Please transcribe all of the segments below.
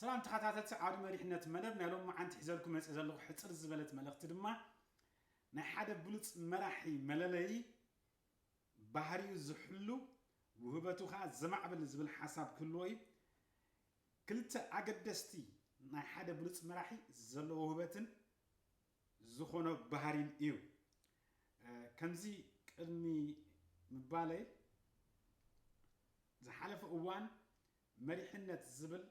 ሰላም ተኻታተልቲ ዓውዲ መሪሕነት መደብ ናይ ሎምዓንቲ ሒዘልኩም መጽየ ዘለኹ ሕጽር ዝበለት መልእኽቲ ድማ ናይ ሓደ ብሉጽ መራሒ መለለዪ ባህሪኡ ዝሕሉ ውህበቱ ከኣ ዘማዕብል ዝብል ሓሳብ ክህልዎ እዩ ክልተ ኣገደስቲ ናይ ሓደ ብሉጽ መራሒ ዘለዎ ውህበትን ዝኾኖ ባህሪን እዩ ከምዚ ቅድሚ ምባለይ ዝሓለፈ እዋን መሪሕነት ዝብል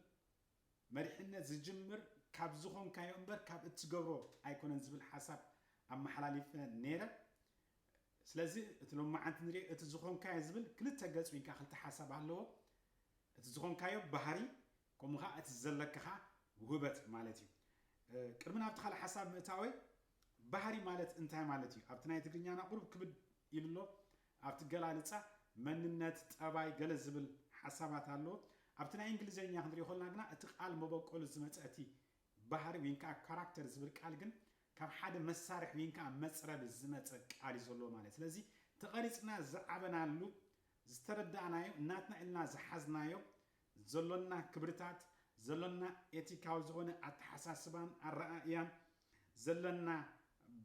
መሪሕነት ዝጅምር ካብ ዝኾንካዮ እምበር ካብ እትገብሮ ኣይኮነን ዝብል ሓሳብ ኣመሓላሊፈ ነይረ። ስለዚ እቲ ሎማዓንቲ ንሪኦ እቲ ዝኾንካዮ ዝብል ክልተ ገፅ ወይ ከዓ ክልተ ሓሳብ ኣለዎ። እቲ ዝኾንካዮ ባህሪ ከምኡ ከዓ እቲ ዘለካ ከዓ ውህበት ማለት እዩ። ቅድሚ ናብቲ ካልእ ሓሳብ ምእታወይ ባህሪ ማለት እንታይ ማለት እዩ? ኣብቲ ናይ ትግርኛና ቁሩብ ክብድ ኢሉ ኣሎ። ኣብቲ ኣገላልጻ መንነት፣ ጠባይ፣ ገለ ዝብል ሓሳባት ኣሎ። ኣብቲ ናይ እንግሊዘኛ ክንሪኦ ከለና ግና እቲ ቃል መበቆሉ ዝመጸ እቲ ባህሪ ዊን ከኣ ካራክተር ዝብል ቃል ግን ካብ ሓደ መሳርሒ ዊን ከኣ መጽረቢ ዝመጸ ቃል እዩ ዘለዎ ማለት ስለዚ ተቐሪጽና ዝዓበናሉ ዝተረዳእናዮ ናትና ኢልና ዝሓዝናዮ ዘሎና ክብርታት ዘሎና ኤቲካዊ ዝኾነ ኣተሓሳስባን ኣረኣእያን ዘለና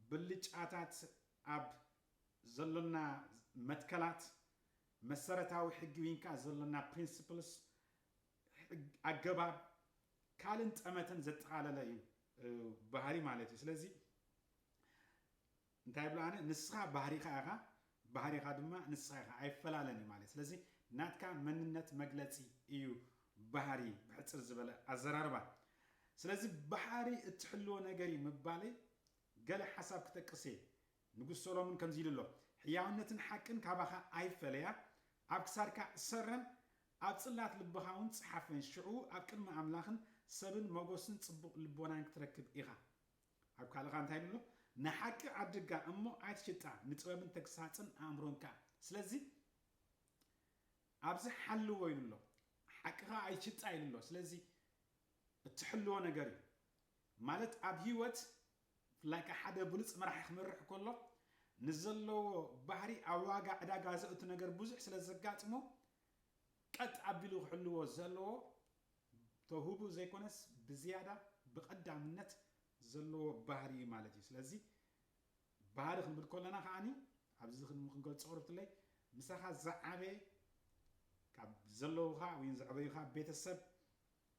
ብልጫታት ኣብ ዘሎና መትከላት መሰረታዊ ሕጊ ዊንከኣ ዘሎና Principles ሕግ ኣገባብ ካልእን ጠመተን ዘጠቓለለ እዩ ባህሪ ማለት እዩ ስለዚ እንታይ ብሎ ኣነ ንስኻ ባህሪኻ ኢኻ ባህሪኻ ድማ ንስኻ ኢኻ ኣይፈላለን እዩ ማለት ስለዚ ናትካ መንነት መግለጺ እዩ ባህሪ ብሕጽር ዝበለ ኣዘራርባ ስለዚ ባህሪ እትሕልዎ ነገር እዩ ምባለይ ገለ ሓሳብ ክጠቅስ እየ። ንጉስ ሰሎምን ከምዚ ኢሉ ኣሎ፣ ሕያውነትን ሓቅን ካባኻ ኣይፈለያ፣ ኣብ ክሳድካ እሰረን፣ ኣብ ጽላት ልብኻ እውን ጽሓፈን፣ ሽዑ ኣብ ቅድሚ ኣምላኽን ሰብን መጐስን ጽቡቕ ልቦናን ክትረክብ ኢኻ። ኣብ ካልእ ከኣ እንታይ ኢሉ ኣሎ? ንሓቂ ዓድጋ እሞ ኣይትሽጣ፣ ንጥበብን ተግሳጽን ኣእምሮን ከኣ። ስለዚ ኣብዚ ሓልዎ ኢሉ ኣሎ። ሓቂ ኸኣ ኣይትሽጣ ኢሉ ኣሎ። ስለዚ እትሕልዎ ነገር እዩ። ማለት ኣብ ሂወት like ሓደ ብሉጽ መራሒ ክመርሕ ከሎ ንዘለዎ ባህሪ ኣብ ዋጋ ዕዳጋ ዘእቱ ነገር ብዙሕ ስለ ዘጋጥሞ ቀጥ ኣቢሉ ክሕልዎ ዘለዎ ተውህቡ ዘይኮነስ ብዝያዳ ብቀዳምነት ዘለዎ ባህሪ እዩ ማለት እዩ ስለዚ ባህሪ ክንብል ከለና ከዓኒ ኣብዚ ክንገልጾ ቅርብትለይ ምሳኻ ዝዓበየ ካብ ዘለውኻ ወይ ዘዕበዩኻ ቤተሰብ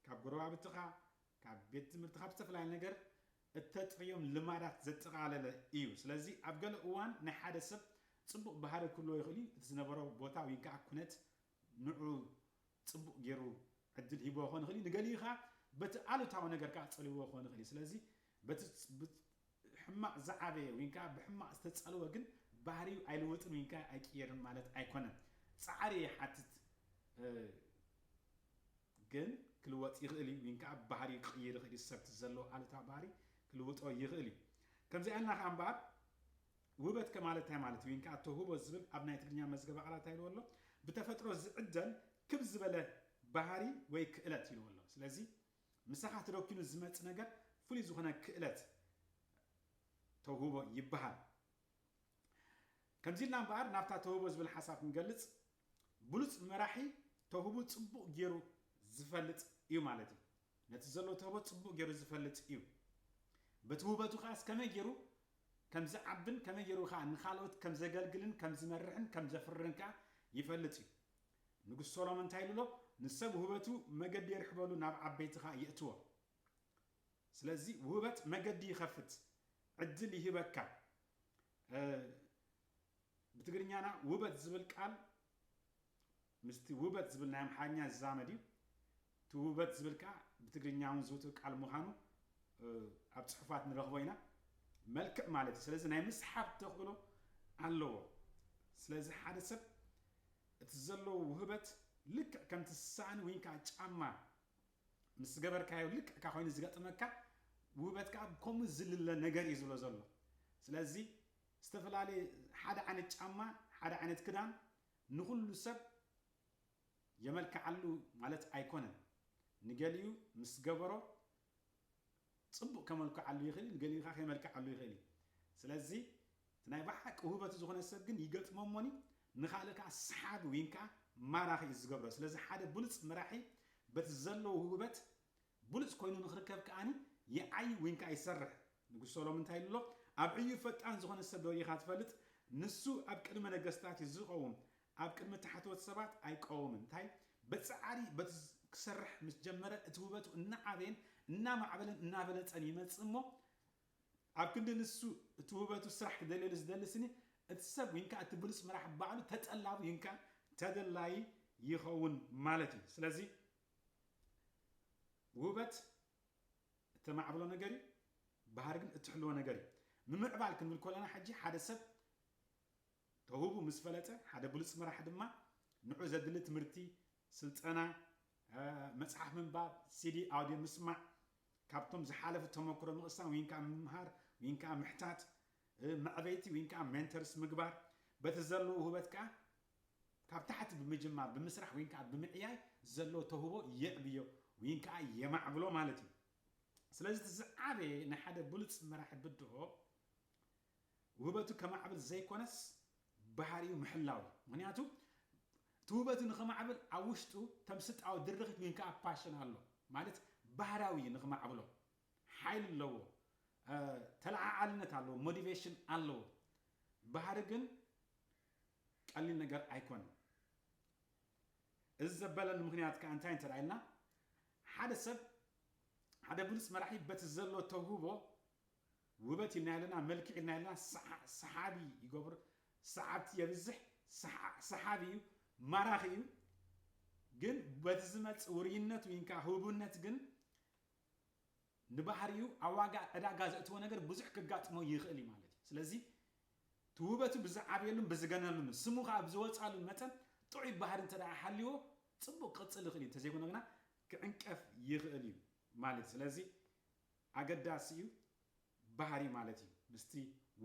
ካብ ጎረባብትኻ ካብ ቤት ትምህርቲ ካብ ዝተፈላለየ ነገር እተጥርዮም ልማዳት ዘጠቓለለ ኢዩ። ስለዚ ኣብ ገለ እዋን ናይ ሓደ ሰብ ጽቡቕ ባህሪ ክህልዎ ይኽእል ኢዩ፣ እቲ ዝነበሮ ቦታ ውይንከኣ ኩነት ንዕኡ ጽቡቕ ገይሩ ዕድል ሂብዎ ክኾን ይኽእል ኢዩ፣ ንገሊኡ ከኣ በቲ ኣሉታዊ ነገር ከኣ ጸሊውዎ ክኾን ይኽእል ኢዩ። ስለዚ በቲ ብሕማቕ ዝዓበየ ውይንከኣ ብሕማቕ ዝተጸልወ ግን ባህሪኡ ኣይልውጥን ውይንከኣ ኣይቅየርን ማለት ኣይኮነን። ጻዕሪ ይሓትት። ግን ክልወጥ ይኽእል እዩ ዊን ከኣ ባህርዩ ክቕይር ይኽእል እዩ ሰብ እቲ ዘለዎ ኣሉታዊ ባህሪ ክልውጦ ይኽእል እዩ ከምዚኣና ከኣ እምበኣር ውበት ከማለት እንታይ ማለት እዩ ዊን ከኣ ተውህቦ ዝብል ኣብ ናይ ትግርኛ መዝገበ ቃላት እንታይ ኢልዎ ኣሎ ብተፈጥሮ ዝዕደል ክብ ዝበለ ባህሪ ወይ ክእለት ኢልዎ ኣሎ ስለዚ ምሳኻ ተደኪኑ ዝመጽእ ነገር ፍሉይ ዝኾነ ክእለት ተውህቦ ይበሃል ከምዚ ኢልና እምበኣር ናብታ ተውህቦ ዝብል ሓሳብ ክንገልጽ ብሉጽ መራሒ ተውህቡ ጽቡቅ ጌሩ ዝፈልጥ እዩ ማለት እዩ ነቲ ዘሎ ተህቦ ጽቡቅ ጌሩ ዝፈልጥ እዩ በቲ ውበቱ ከኣስ ከመይ ጌሩ ከም ዝዓብን ከመይ ጌሩ ከኣ ንካልኦት ከም ዘገልግልን ከም ዝመርሕን ከም ዘፍርን ከኣ ይፈልጥ እዩ ንጉስ ሶሎሞን እንታይ ኢሉ ኣሎ ንሰብ ውህበቱ መገዲ የርሕበሉ ናብ ዓበይቲ ከኣ የእትዎ ስለዚ ውህበት መገዲ ይኸፍት ዕድል ይህበካ ብትግርኛና ውበት ዝብል ቃል ምስቲ ውበት ዝብል ናይ ኣምሓርኛ ዝዛመድ እዩ። እቲ ውበት ዝብል ከኣ ብትግርኛ እውን ዝውቱር ቃል ምዃኑ ኣብ ጽሑፋት ንረኽቦ ኢና። መልክዕ ማለት እዩ። ስለዚ ናይ ምስሓብ ተኽእሎ ኣለዎ። ስለዚ ሓደ ሰብ እቲ ዘለዎ ውህበት ልክዕ ከምቲ ሳእኒ ወይ ከዓ ጫማ ምስ ዝገበርካዮ ልክዕ እካ ኮይኑ ዝገጥመካ ውህበት ከዓ ከምኡ ዝልለ ነገር እዩ ዝብሎ ዘሎ። ስለዚ ዝተፈላለየ ሓደ ዓይነት ጫማ ሓደ ዓይነት ክዳን ንኹሉ ሰብ የመልክዓሉ ማለት ኣይኮነን ንገሊኡ ምስ ገበሮ ጽቡቅ ከመልኩዓሉ ይኽእል ንገሊኡ ከኣ ከይመልክዓሉ ይኽእል እዩ ስለዚ እቲ ናይ ብሓቂ ውህበቱ ዝኾነ ሰብ ግን ይገጥሞሞኒ ንኻልእ ከኣ ሰሓቢ ዊን ከኣ ማራኺ እዩ ዝገብሮ ስለዚ ሓደ ብሉጽ መራሒ በቲ ዘለዎ ውህበት ብሉጽ ኮይኑ ንኽርከብ ከኣኒ ይዓይ ዊን ከኣ ይሰርሕ ንጉስ ሶሎምን እንታይ ኢሉ ኣሎ? ኣብ ዕዩ ፈጣን ዝዀነ ሰብ ዶ ርኢኻ ትፈልጥ? ንሱ ኣብ ቅድሚ ነገስታት እዩ ዚቐውም፣ ኣብ ቅድሚ ታሕተዎት ሰባት ኣይቀውምን። እንታይ? ብጻዕሪ በቲ ኪሰርሕ ምስ ጀመረ፣ እቲ ውበቱ እናዓበየን እናማዕበለን እናበለጸን ይመጽእ እሞ፣ ኣብ ክንዲ ንሱ እቲ ውበቱ ስራሕ ኪደልየሉ ዚደሊ ስኒ እቲ ሰብ ወይን ከኣ እቲ ብሉጽ መራሒ ባዕሉ ተጠላቢ ወይን ከኣ ተደላዪ ይኸውን ማለት እዩ። ስለዚ ውበት እተማዕብሎ ነገር እዩ፣ ባህሪ ግን እትሕልዎ ነገር እዩ። ምምዕባል ክንብል ከሎና ሕጂ ሓደ ሰብ ተውህቡ ምስ ፈለጠ፣ ሓደ ብሉጽ መራሒ ድማ ንዕኡ ዘድሊ ትምህርቲ፣ ስልጠና፣ መጽሓፍ ምንባብ፣ ሲዲ፣ ኣውድዮ ምስማዕ፣ ካብቶም ዝሓለፉ ተመክሮ ምቕሳም ወይን ከኣ ምምሃር ወይን ከኣ ምሕታት፣ መዕበይቲ ወይን ከኣ ሜንተርስ ምግባር፣ በቲ ዘለዎ ውህበት ከኣ ካብ ታሕቲ ብምጅማር፣ ብምስራሕ ወይን ከኣ ብምዕያይ ዘሎ ተውህቦ የዕብዮ ወይን ከኣ የማዕብሎ ማለት እዩ። ስለዚ እቲ ዝዓበየ ናይ ሓደ ብሉጽ መራሒ ብድሆ ውህበቱ ከማዕብል ዘይኮነስ ባህሪኡ ምሕላው እዩ። ምክንያቱ እቲ ውህበቱ ንኸማዕብል ኣብ ውሽጡ ተምስጣዊ ድርኺት ወይን ከኣ ፓሽን ኣሎ ማለት ባህራዊ እዩ ንኽማዕብሎ ሓይሊ ኣለዎ ተለዓዓልነት ኣለዎ ሞቲቬሽን ኣለዎ ባህሪ ግን ቀሊል ነገር ኣይኮነን። እዚ ዘበለሉ ምኽንያት ከኣ እንታይ እንተ ኢልና፣ ሓደ ሰብ ሓደ ብሉጽ መራሒ በቲ ዘሎ ተውህቦ ውበት ኢልና ኢልና መልክዕ ኢልና ኢልና ሰሓቢ ይገብሮ፣ ሰዓብቲ የብዝሕ፣ ሰሓቢ እዩ፣ ማራኺ እዩ፣ ግን በቲ ዝመጽእ ውርይነት ውይን ከኣ ህቡብነት ግን ንባህሪኡ ኣብ ዋጋ ዕዳጋ ዘእትዎ ነገር ብዙሕ ከጋጥሞ ይኽእል እዩ ማለት እዩ። ስለዚ እቲ ውበቱ ብዝዓብየሉን ብዝገነሉን ስሙ ከኣ ብዝወጽኣሉን መጠን ጥዑይ ባህሪ እንተደኣ ሃልይዎ ጽቡቕ ክቕጽል ይኽእል እዩ፣ እንተዘይኮነ ግና ክዕንቀፍ ይኽእል እዩ ማለት እዩ። ስለዚ ኣገዳሲ እዩ ባህሪ ማለት እዩ ምስቲ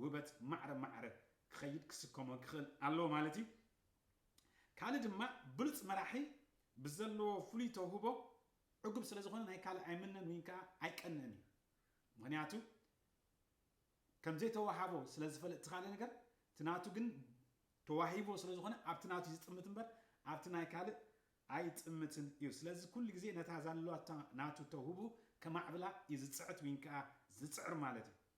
ውበት ማዕረ ማዕረ ክኸይድ ክስከሞ ክኽእል ኣለዎ ማለት እዩ። ካልእ ድማ ብሉጽ መራሒ ብዘለዎ ፍሉይ ተውህቦ ዕጉብ ስለ ዝኾነ ናይ ካልእ ኣይምነን ዊን ከኣ ኣይቀንእን እዩ ምኽንያቱ ከም ዘይተዋሃቦ ስለ ዝፈለጥ እቲ ካልእ ነገር እቲ ናቱ ግን ተዋሂብዎ ስለ ዝኾነ ኣብቲ ናቱ እዩ ዝጥምት እምበር ኣብቲ ናይ ካልእ ኣይጥምትን እዩ ስለዚ ኩሉ ግዜ ነታ ዛለዋታ ናቱ ተውህቡ ከማዕብላ እዩ ዝጽዕት ዊን ከኣ ዝጽዕር ማለት እዩ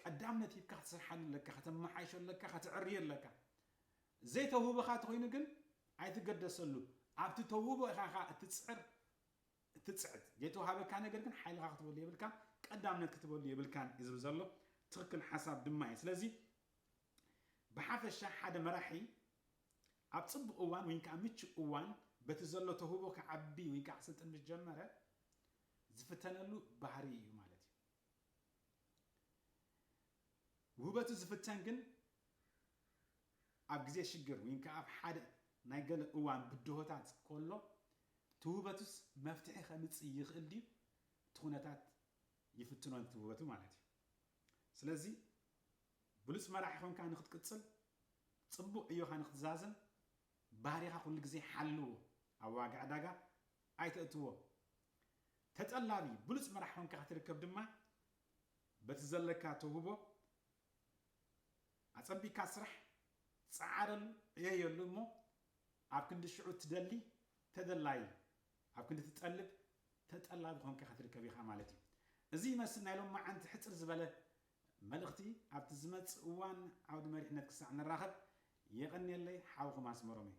ቀዳምነት ሂብካ ክትሰርሓሉ ኣለካ ከተማሓይሾ ኣለካ ከተዕርዮ ኣለካ ዘይተውህበካ ተኮይኑ ግን ኣይትገደሰሉ ኣብቲ ተውህቦ ኢካ ከኣ እትጽዕር እትጽዕት ዘይተዋሃበካ ነገር ግን ሓይልካ ክትበሉ የብልካ ቀዳምነት ክትበሉ የብልካን እዩ ዝብል ዘሎ ትክክል ሓሳብ ድማ እዩ ስለዚ ብሓፈሻ ሓደ መራሒ ኣብ ጽቡቅ እዋን ወይ ከዓ ምቹእ እዋን በቲ ዘሎ ተውህቦ ክዓቢ ወይ ከዓ ክስልጥን ምስ ጀመረ ዝፍተነሉ ባህሪ እዩ ማለት እዩ ውህበቱ ዝፍተን ግን ኣብ ግዜ ሽግር ውይንከ ኣብ ሓደ ናይ ገለ እዋን ብድሆታት ኮሎ እቲ ውህበቱስ መፍትሒ ከምጽእ ይክእል ድዩ እቲ ኩነታት ይፍትኖ ነቲ ውህበቱ ማለት እዩ ስለዚ ብሉጽ መራሒ ኮንካ ንክትቅጽል ጽቡቅ ዕዮካ ንክትዛዝም ባህሪኻ ኩሉ ግዜ ሓልዎ ኣብ ዋጋ ዕዳጋ ኣይተእትዎ ተጠላቢ ብሉጽ መራሕ ኮንካ ክትርከብ ድማ በቲ ዘለካ ተውህቦ ኣጸቢካ ስራሕ ጸዓረሉ ዕየየሉ እሞ ኣብ ክንዲ ሽዑ ትደሊ ተደላዪ ኣብ ክንዲ ትጠልብ ተጠላቢ ኮንካ ክትርከብ ኢኻ ማለት እዩ እዚ ይመስል ናይ ሎማዓንቲ ሕጽር ዝበለ መልእኽቲ ኣብቲ ዝመጽእ እዋን ዓውዲ መሪሕነት ክሳዕ ንራኸብ የቐንየለይ ሓውኹም ኣስመሮም እየ።